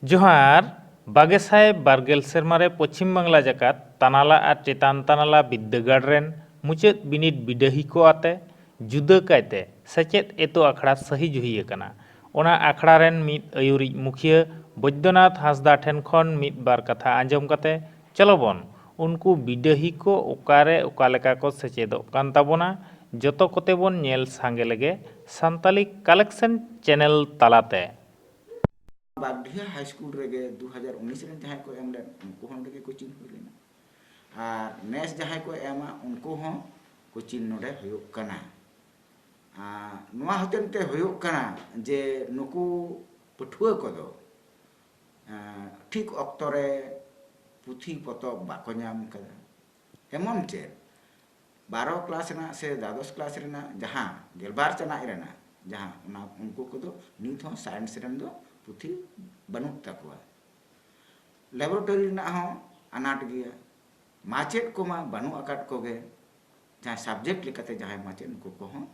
ᱡᱚᱦᱟᱨ ᱵᱟᱜᱮ ᱥᱟᱭ ᱵᱟᱨᱜᱮᱞ ᱥᱮᱨᱢᱟ ᱨᱮ ᱯᱚᱪᱷᱤᱢ ᱵᱟᱝᱞᱟ ᱡᱟᱠᱟᱛ ᱛᱟᱱᱟᱞᱟ ᱟᱨ ᱪᱮᱛᱟᱱ ᱛᱟᱱᱟᱞᱟ ᱵᱤᱫᱽᱫᱟᱹᱜᱟᱲ ᱨᱮᱱ ᱢᱩᱪᱟᱹᱫ ᱵᱤᱱᱤᱰ ᱵᱤᱰᱟᱹᱦᱤ ᱠᱚ ᱟᱛᱮ ᱡᱩᱫᱟᱹ ᱠᱟᱭᱛᱮ ᱥᱮᱪᱮᱫ ᱮᱛᱚ ᱟᱠᱷᱲᱟ ᱥᱟᱹᱦᱤ ᱡᱩᱦᱤ ᱟᱠᱟᱱᱟ᱾ ᱚᱱᱟ ᱟᱠᱷᱲᱟ ᱨᱮᱱ ᱢᱤᱫ ᱟᱹᱭᱩᱨᱤᱡ ᱢᱩᱠᱷᱤᱭᱟᱹ ᱵᱚᱡᱽᱫᱚᱱᱟᱛᱷ ᱦᱟᱸᱥᱫᱟ ᱴᱷᱮᱱ ᱠᱷᱚᱱ ᱢᱤᱫ ᱵᱟᱨ ᱠᱟᱛᱷᱟ ᱟᱸᱡᱚᱢ ᱠᱟᱛᱮ ᱪᱚᱞᱚ ᱵᱚᱱ ᱩᱱᱠᱩ ᱵᱤᱰᱟᱹᱦᱤ ᱠᱚ ᱚᱠᱟᱨᱮ ᱚᱠᱟ ᱞᱮᱠᱟ ᱠᱚ ᱥᱮᱪᱮᱫᱚᱜ ᱠᱟᱱ ᱛᱟᱵᱚᱱᱟ ᱡᱚᱛᱚ ᱠᱚᱛᱮ ᱵᱚᱱ ᱧᱮᱞ ᱥᱟᱸᱜᱮ ᱞᱮᱜᱮ ᱥᱟᱱᱛᱟᱞᱤ ᱠᱟᱞᱮᱠᱥᱮᱱ ᱪᱮᱱᱮᱞ ᱛᱟᱞᱟ ᱛᱮ᱾ ᱱᱚᱣᱟ ᱵᱟᱜᱽᱰᱤᱦᱟ ᱦᱟᱭ ᱥᱠᱩᱞ ᱨᱮᱜᱮ ᱫᱩ ᱦᱟᱡᱟᱨ ᱩᱱᱤᱥ ᱨᱮᱱ ᱡᱟᱦᱟᱸᱭ ᱠᱚ ᱮᱢ ᱞᱮᱫ ᱩᱱᱠᱩ ᱦᱚᱸ ᱱᱚᱸᱰᱮ ᱜᱮ ᱠᱳᱪᱤᱝ ᱦᱩᱭ ᱞᱮᱱᱟ ᱟᱨ ᱱᱮᱥ ᱡᱟᱦᱟᱸᱭ ᱠᱚ ᱮᱢᱟ ᱩᱱᱠᱩ ᱦᱚᱸ ᱠᱳᱪᱤᱝ ᱱᱚᱸᱰᱮ ᱦᱩᱭᱩᱜ ᱠᱟᱱᱟ ᱟᱨ ᱱᱚᱣᱟ ᱦᱚᱛᱮᱱ ᱛᱮ ᱦᱩᱭᱩᱜ ᱠᱟᱱᱟ ᱡᱮ ᱱᱩᱠᱩ ᱯᱟᱹᱴᱷᱩᱣᱟᱹ ᱠᱚᱫᱚ ᱴᱷᱤᱠ ᱚᱠᱛᱚ ᱨᱮ ᱯᱩᱛᱷᱤ ᱯᱚᱛᱚᱵ ᱵᱟᱠᱚ ᱧᱟᱢ ᱟᱠᱟᱫᱟ ᱮᱢᱚᱱ ᱪᱮᱫ ᱵᱟᱨᱚ ᱠᱞᱟᱥ ᱨᱮᱱᱟᱜ ᱥᱮ ᱫᱟᱫᱚᱥ ᱠᱞᱟᱥ ᱨᱮᱱᱟᱜ ᱡᱟᱦᱟᱸ ᱜᱮᱞᱵᱟᱨ ᱪᱟᱱᱟᱪ ᱨᱮᱱᱟᱜ ᱡᱟᱦᱟᱸ ᱚᱱᱟ ᱩᱱᱠᱩ ᱠᱚᱫᱚ ᱱᱤᱛ ᱦᱚᱸ ᱥᱟᱭᱮᱱᱥ ᱨᱮᱱ ᱫᱚ ᱯᱩᱛᱷᱤ ᱵᱟᱹᱱᱩᱜ ᱛᱟᱠᱚᱣᱟ ᱞᱮᱵᱚᱨᱮᱴᱚᱨᱤ ᱨᱮᱱᱟᱜ ᱦᱚᱸ ᱟᱱᱟᱴ ᱜᱮᱭᱟ ᱢᱟᱪᱮᱫ ᱠᱚᱢᱟ ᱵᱟᱹᱱᱩᱜ ᱟᱠᱟᱫ ᱠᱚᱜᱮ ᱡᱟᱦᱟᱸ ᱥᱟᱵᱡᱮᱠᱴ ᱞᱮᱠᱟᱛᱮ ᱡᱟᱦᱟᱸᱭ ᱢᱟᱪᱮᱫ ᱩᱱᱠᱩ ᱠᱚᱦᱚᱸ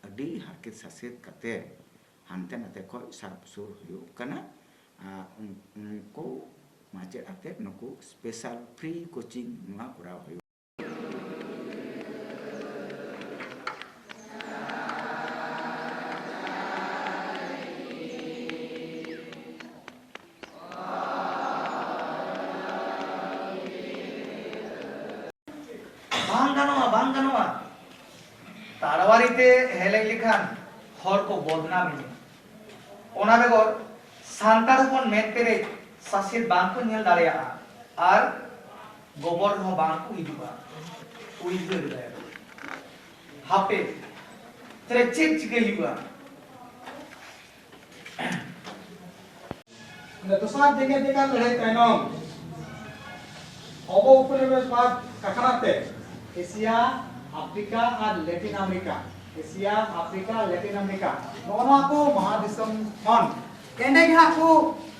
ᱟᱹᱰᱤ ᱦᱟᱨᱠᱮᱛ ᱥᱟᱥᱮᱛ ᱠᱟᱛᱮ ᱦᱟᱱᱛᱮ ᱱᱟᱛᱮ ᱠᱷᱚᱱ ᱥᱟᱵ ᱥᱩᱨ ᱦᱩᱭᱩᱜ ᱠᱟᱱᱟ ᱟᱨ ᱩᱱᱠᱩ ᱢᱟᱪᱮᱫ ᱟᱛᱮ ᱱᱩᱠᱩ ᱥᱯᱮᱥᱟᱞ ᱯᱷᱨᱤ ᱠᱳᱪᱤᱝ ᱱᱚᱣᱟ ᱠᱚᱨᱟᱣ ᱦᱩᱭᱩᱜ ᱵᱟᱝ ᱜᱟᱱᱚᱜᱼᱟ ᱵᱟᱝ ᱜᱟᱱᱚᱜᱼᱟ ᱛᱟᱲᱣᱟᱨᱤ ᱛᱮ ᱦᱮᱞᱮᱡ ᱞᱮᱠᱷᱟᱱ ᱦᱚᱲ ᱠᱚ ᱵᱚᱫᱱᱟᱢ ᱮᱱᱟ ᱚᱱᱟ ᱵᱮᱜᱚᱨ ᱥᱟᱱᱛᱟᱲ ᱦᱚᱯᱚᱱ ᱢᱮᱫ ᱯᱮᱨᱮᱡ ᱥᱟᱥᱮᱛ ᱵᱟᱝ ᱠᱚ ᱧᱮᱞ ᱫᱟᱲᱮᱭᱟᱜᱼᱟ ᱟᱨ ᱜᱚᱵᱚᱨ ᱦᱚᱸ ᱵᱟᱝ ᱠᱚ ᱦᱤᱡᱩᱜᱼᱟ ᱩᱭᱦᱟᱹᱨ ᱞᱮᱫᱟᱭ ᱦᱟᱯᱮ ᱛᱟᱦᱞᱮ ᱪᱮᱫ ᱪᱤᱠᱟᱹᱭ ᱦᱩᱭᱩᱜᱼᱟ ᱫᱚᱥᱟᱨ ᱡᱮᱜᱮᱛ ᱡᱟᱠᱟᱛ ᱞᱟᱹᱲᱦᱟᱹᱭ ᱛᱟᱭᱱᱚᱢ ᱚᱵᱚ ᱩᱯᱚᱱᱤᱵᱮᱥ ᱵᱟᱫ ᱠᱟᱠᱷᱟᱱᱟ ᱛᱮ ᱮᱥᱤᱭᱟ ᱟᱯᱷᱨᱤᱠᱟ ᱟᱨ Latin America Asia Africa Latin America ᱱᱚᱜᱼᱚ ᱱᱚᱣᱟ ᱠᱚ ᱢᱚᱦᱟ ᱫᱤᱥᱚᱢ ᱠᱷᱚᱱ ᱮᱸᱰᱮ ᱜᱮ ᱦᱟᱸᱜ ᱠᱚ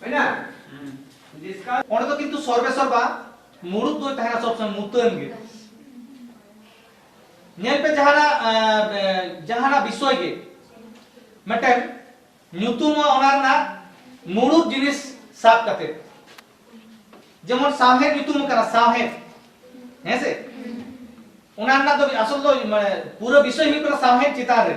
ᱦᱩᱭᱱᱟ ᱰᱤᱥᱠᱟᱥ ᱚᱸᱰᱮ ᱫᱚ ᱠᱤᱱᱛᱩ ᱥᱚᱨᱵᱮ ᱥᱚᱨᱵᱟ ᱢᱩᱲᱩᱫ ᱫᱚ ᱛᱟᱦᱮᱱᱟ ᱥᱚᱵ ᱥᱚᱢᱚᱭ ᱢᱩᱛᱟᱹᱱ ᱜᱮ ᱧᱮᱞ ᱯᱮ ᱡᱟᱦᱟᱱᱟᱜ ᱡᱟᱦᱟᱱᱟᱜ ᱵᱤᱥᱚᱭ ᱜᱮ ᱢᱤᱫᱴᱮᱱ ᱧᱩᱛᱩᱢ ᱚᱱᱟ ᱨᱮᱱᱟᱜ ᱢᱩᱲᱩᱫ ᱡᱤᱱᱤᱥ ᱥᱟᱵ ᱠᱟᱛᱮ ᱡᱮᱢᱚᱱ ᱥᱟᱶᱦᱮᱫ ᱧᱩᱛᱩᱢ ᱠᱟᱱᱟ ᱥᱟᱶᱦᱮᱫ ᱦᱮᱸ ᱥᱮ ᱚᱱᱟ ᱨᱮᱱᱟᱜ ᱫᱚ ᱟᱥᱚᱞ ᱫᱚ ᱢᱟᱱᱮ ᱯᱩᱨᱟᱹ ᱵᱤᱥᱚᱭ ᱦᱩᱭᱩᱜ ᱠᱟᱱᱟ ᱥᱟᱶᱦᱮᱫ ᱪᱮᱛᱟᱱ ᱨᱮ